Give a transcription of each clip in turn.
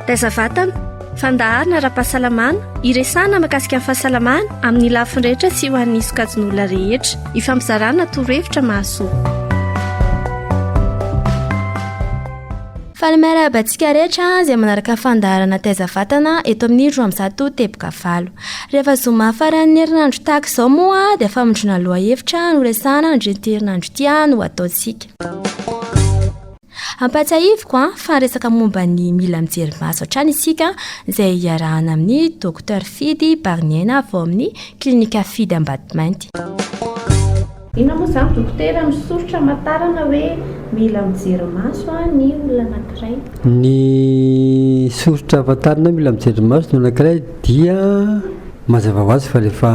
Taiza vatana, fandaharana ara-pahasalamana, iresahana makasika ny fahasalamana amin'ny lafiny rehetra sy ho an'ny sokajin'olona rehetra. Ifampizarana torohevitra mahasoa. Faly miarahaba antsika rehetra izay manaraka fandaharana taiza vatana eto amin'ny roa amzato teboka valo. Rehefa zoma faran'ny herinandro tahaka izao moa dia famindrona lohahevitra no resahana nandrinterinandro ity no ataontsika. Ampahatsiahiviko an, fa resaka momba ny mila mijery maso hatrany isika izay hiarahana amin'ny Docteur Fidy Bariniaina avy ao amin'ny Clinika Fidy Ambatomainty. Inona moa izany Dokotera misoritra hamantarana hoe mila mijery maso an ny olona anankiray? Ny soritra hamantarana hoe mila mijery maso ny olona anankiray dia mazava ho azy fa rehefa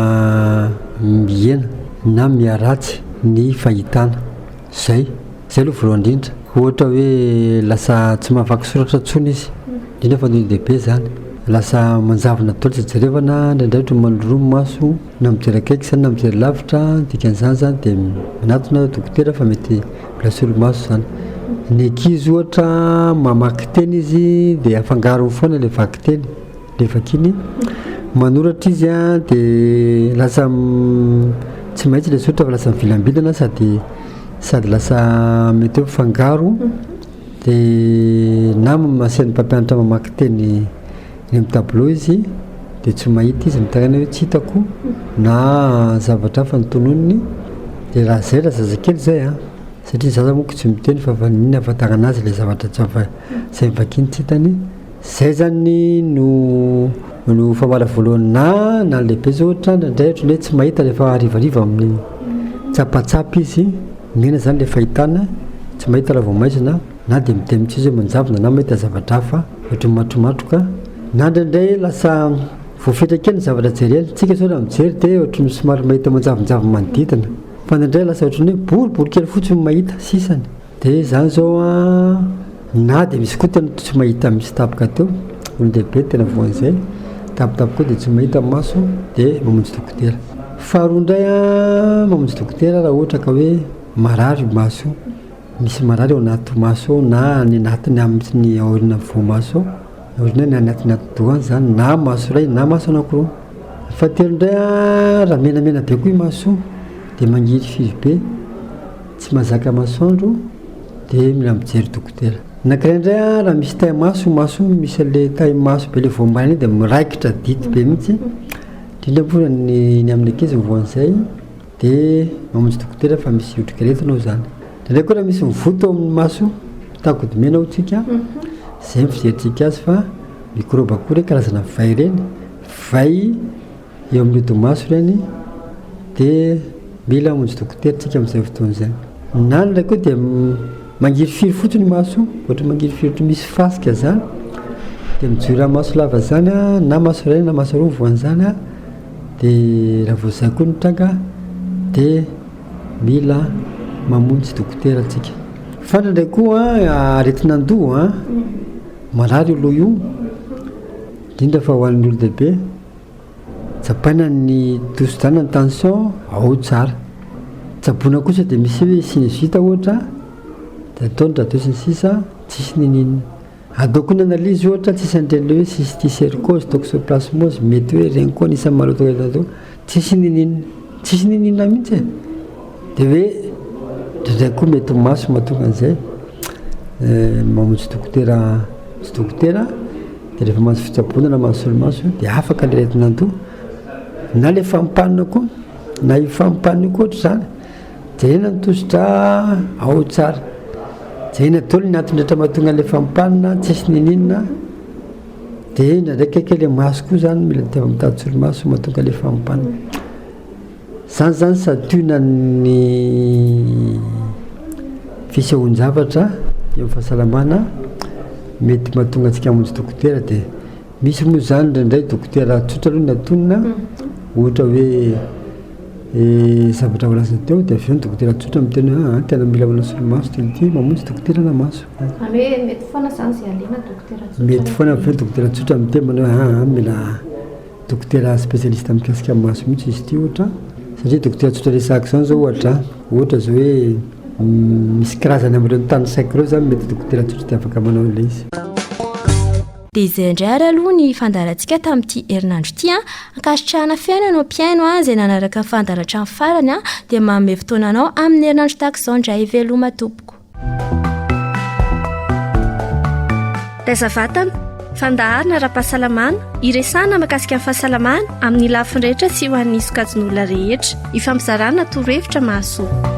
mihena na miharatsy ny fahitana. Zay, zay aloha voalohany indrindra, ohatra hoe lasa tsy mahavaky soratra intsony izy, indrindra fa ny olon-dehibe izany, lasa manjavona daholo izay jerevana, indraindray ohatra manoloroa ny maso na mijery akaiky izany na mijery lavitra, ny dikan'izany izany dia manatona aho dokotera fa mety mbola solomaso izany, ny ankizy ohatra mamaky teny izy dia afangarony foana ilay vakiteny. Dia vakiny, manoratra izy an, dia lasa tsy maintsy ilay soratra fa lasa mivilambilana sady sady lasa mety hoe mifangaro dia na masehan'ny mpampianatra mamaky teny eny amin'ny tableau izy dia tsy mahita izy mitaraina hoe tsy hitako na zavatra hafa ny tononiny dia raha izay raha zazakely izay an satria ny zaza moa koa tsy miteny fa vaniny hahafantarana azy ilay zavatra tsy hafa izay vakiny tsy hitany Zay zany no no famoahana voalohany na na lehibe zao ohatra indraindray ohatran'ny hoe tsy mahita rehefa harivariva amin'ny tsapatsapa izy mena zany le fahitana tsy mahita raha vao maizina na de miteny mitsy izy hoe manjavona na mahita zavatra hafa ohatry ny matromatroka na indraindray lasa voafetra kely ny zavatra jereny tsika zao raha mijery de ohatry ny somary mahita manjavonjavona manodidina fa indraindray lasa ohatry ny hoe boribory kely fotsiny no mahita sisany Dia izany izao an, na dia misy koa tena tsy mahita misy tapaka teo, olon-dehibe tena voan'izay, tapitapy koa dia tsy mahita ny maso dia mamonjy dokotera. Faharoa indray an, mamonjy dokotera raha ohatra ka hoe marary io maso io, misy marary ao anaty maso ao na any anatiny any mihitsy ny aorianan'ny voamaso ao, ny aoriana na ny atiny atidoha any izany na maso iray na maso anakiroa. Ny fahatelo indray an, raha menamena be koa io maso io dia mangihiry firy be, Tsy mazaka masoandro dia mila mijery dokotera. Anankiray indray an raha misy tay maso maso iny misy anle tay maso be le voambaina iny dia miraikitra dity be mihitsy indrindra moa fa ny ny amin'ny ankizy ny voany izay dia mamonjy dokotera fa misy otrikaretina ao zany. Indraindray koa raha misy mivoto ao amin'ny maso takodomena ao tsika zay ny fizerintsika azy fa mikrôba koa ireny karazana vay ireny vay Eo amin'ny odi-maso ireny dia mila hamonjy dokotera isika amin'izay fotoana izay. Ny anona ilay koa dia mangirifiry fotsiny ny maso, ohatra mangirifiry ohatry ny misy fasika izany, dia mijoro amin'ny maso lava izany na maso iray na maso roa ny voan'izany dia raha vao izay koa no tranga dia mila mamonjy dokotera isika. Fandra indray koa aretin'andoha, marary io loha io, indrindra fa ho an'ny olon-dehibe. Tsapaina ny tosidràna ny tension ao tsara. Tsaboina kosa dia misy hoe sinusite ohatra dia atao ny radio sy ny sisa tsisy niniana. Ataoko ny analyse ohatra tsisy an'ireny hoe cysticercose, toxoplasmose, mety hoe ireny koa anisan'ny maloto eto atao. Tsisy niniana. Tsisy niniana mihitsy e. Dia hoe indraindray koa mety ho maso mahatonga an'izay. Mamonjy dokotera sy dokotera. Dia rehefa mahazo fitsaboana na mahazo solomaso io dia afaka ilay aretin'andoha. Na ilay fampanina koa, na io fampanina io koa ohatr'izany, jerena ny tosi-drà ao tsara. Jerena daholo ny antony rehetra mahatonga an'ilay fampanina, tsisy niniana. Dia indraindray kaikay ilay maso koa izany mila diavina mitady solomaso mahatonga ilay fampanina. Izany izany santionan'ny fisehoan-javatra eo amin'ny fahasalamana mety mahatonga antsika hamonjy dokotera dia misy moa izany indraindray dokotera tsotra aloha no antonina, ohatra hoe zavatra voalaza teo dia avy eo ny dokotera tsotra miteny hoe aa tena mila manao solomaso ity ity, mamonjy dokotera na maso. Izany hoe mety foana izany izay alena dokotera tsotra. Mety foana fa hoe dokotera tsotra miteny manao hoe aa mila Dokotera spécialiste mikasika maso mihitsy izy ity ohatra satria dokotera tsotra resahako izany izao ohatra ohatra izao hoe misy kirazany amin'ireo tanisaiko ireo izany mety dokotera tsotra dia afaka manao ilay izy. Dia izay indray ary aloha ny fandaharantsika tamin'ity herinandro ity an! Ankasitrahana feno ianao mpihaino an, izay nanaraka ny fandaharana hatramin'ny farany an, dia manome fotoana anao amin'ny herinandro tahaka izao indray, veloma tompoko. Taiza vatana, fandaharana ara-pahasalamana, iresahana makasika ny fahasalamana amin'ny lafiny rehetra sy ho an'ny sokajin'olona rehetra. Ifampizarana torohevitra mahasoa.